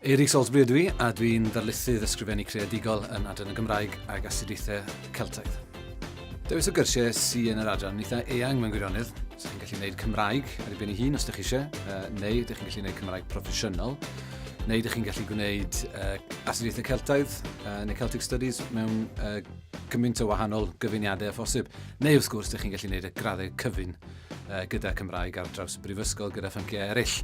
Eiric Salisbury ydw i, a dwi'n ddarlithydd ysgrifennu creadigol yn Adran y Gymraeg ag Astudiaethau Celtaidd. Dewis o gyrsiau sy yn yr adran yn eitha eang mewn gwirionedd. Ydych chi'n gallu gwneud Cymraeg ar ei ben ei hun os ydych chi eisiau, neu ydych chi'n gallu gwneud Cymraeg proffesiynol, neu ydych chi'n gallu gwneud uh, astudiaethau Celtaidd uh, neu Celtic Studies mewn uh, cymaint o wahanol gyfuniadau a phosib, neu wrth gwrs ydych chi'n gallu gwneud y graddau cyfun uh, gyda Cymraeg ar draws y brifysgol gyda phynciau eraill.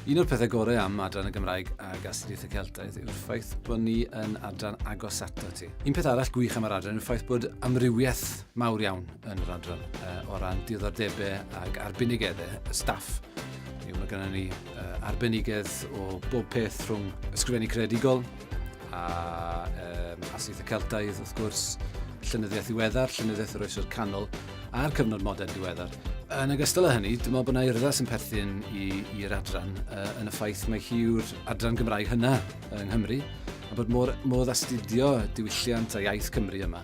Un o'r pethau gorau am adran y Gymraeg a Gastriaeth y Celtaidd yw'r ffaith bod ni yn adran agos ato ti. Un peth arall gwych am yr adran yw'r ffaith bod amrywiaeth mawr iawn yn yr adran uh, o ran diddordebau ag arbenigeddau y staff. Yw, mae gennym ni uh, arbenigedd o bob peth rhwng ysgrifennu credigol a um, asyth y Celtaidd wrth gwrs, llynyddiaeth ddiweddar, llynyddiaeth yr oesoedd canol, a'r cyfnod modern diweddar. Yn ogystal â hynny, dwi'n meddwl bod yna urddas yn perthyn i'r adran uh, yn y ffaith mae hi yw'r adran Gymraeg hynna yng Nghymru, a bod modd, modd astudio diwylliant a iaith Cymru yma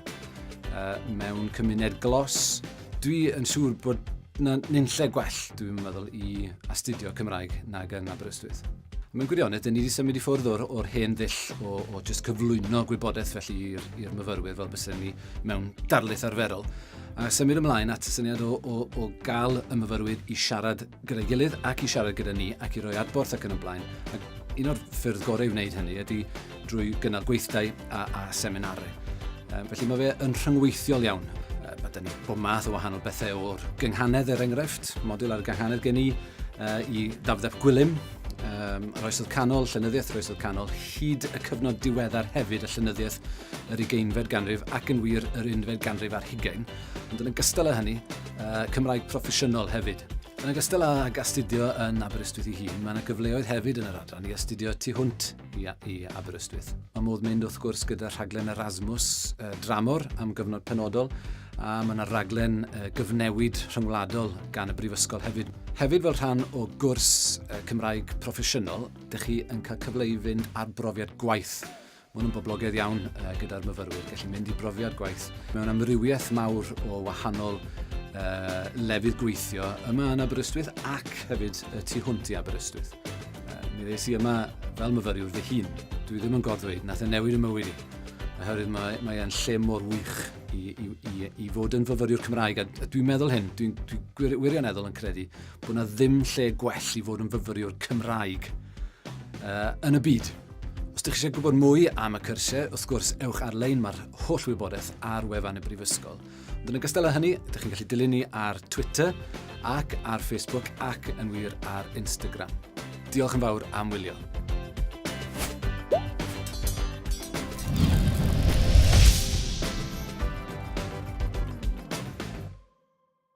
uh, mewn cymuned glos. Dwi yn siŵr bod na nunlle gwell, dwi'n meddwl, i astudio Cymraeg nag yn Aberystwyth. Mae'n gwirionedd, dyn ni wedi symud i ffwrdd o'r, or hen ddull o, o just cyflwyno gwybodaeth felly i'r myfyrwyr fel bysyn ni mewn darlith arferol, a symud ymlaen at y syniad o, o, o gael y myfyrwyr i siarad gyda'i gilydd ac i siarad gyda ni ac i roi adborth ac yn y blaen. Ac un o'r ffyrdd gorau i wneud hynny ydy drwy gynnal gweithdai a, a seminarau. Um, felly mae fe yn rhyngweithiol iawn. Uh, mae dyn ni bob math o wahanol bethau o'r gynghanedd er enghraifft, model ar y gynghanedd gen i, uh, i ddafddef gwylym, um, yr oesodd canol, llenyddiaeth yr oesodd canol, hyd y cyfnod diweddar hefyd y llenyddiaeth yr ugeinfed ganrif ac yn wir yr unfed ganrif ar hugain, ond yn ogystal â hynny, uh, Cymraeg proffesiynol hefyd. Yn ogystal â astudio yn Aberystwyth ei hun, mae yna gyfleoedd hefyd yn yr adran i astudio tu hwnt i, i Aberystwyth. Mae modd mynd wrth gwrs gyda rhaglen Erasmus uh, dramor am gyfnod penodol a mae yna raglen uh, gyfnewid rhyngwladol gan y Brifysgol hefyd. Hefyd fel rhan o gwrs uh, Cymraeg proffesiynol, dych chi yn cael cyfle i fynd ar brofiad gwaith Mae hwn yn boblogaidd iawn uh, gyda'r myfyrwyr, gallu mynd i brofiad gwaith mewn amrywiaeth mawr o wahanol uh, lefydd gweithio yma yn Aberystwyth ac hefyd y tu hwnt i Aberystwyth. Mi ddeis i yma fel myfyriwr fy hun. Dwi ddim yn goddweud, nath e newid y mywyd i. Oherwydd mae, mae e'n lle mor wych i, i, i, i fod yn fyfyriwr Cymraeg. A, a dwi'n meddwl hyn, dwi'n dwi, dwi wirioneddol yn credu bod yna ddim lle gwell i fod yn fyfyriwr Cymraeg uh, yn y byd. Os ydych chi eisiau gwybod mwy am y cyrsiau, wrth gwrs, ewch ar-lein, mae'r holl wybodaeth ar wefan y Brifysgol. Ond yn ogystal â hynny, ydych chi'n gallu dilyn ni ar Twitter ac ar Facebook ac yn wir ar Instagram. Diolch yn fawr am wylio.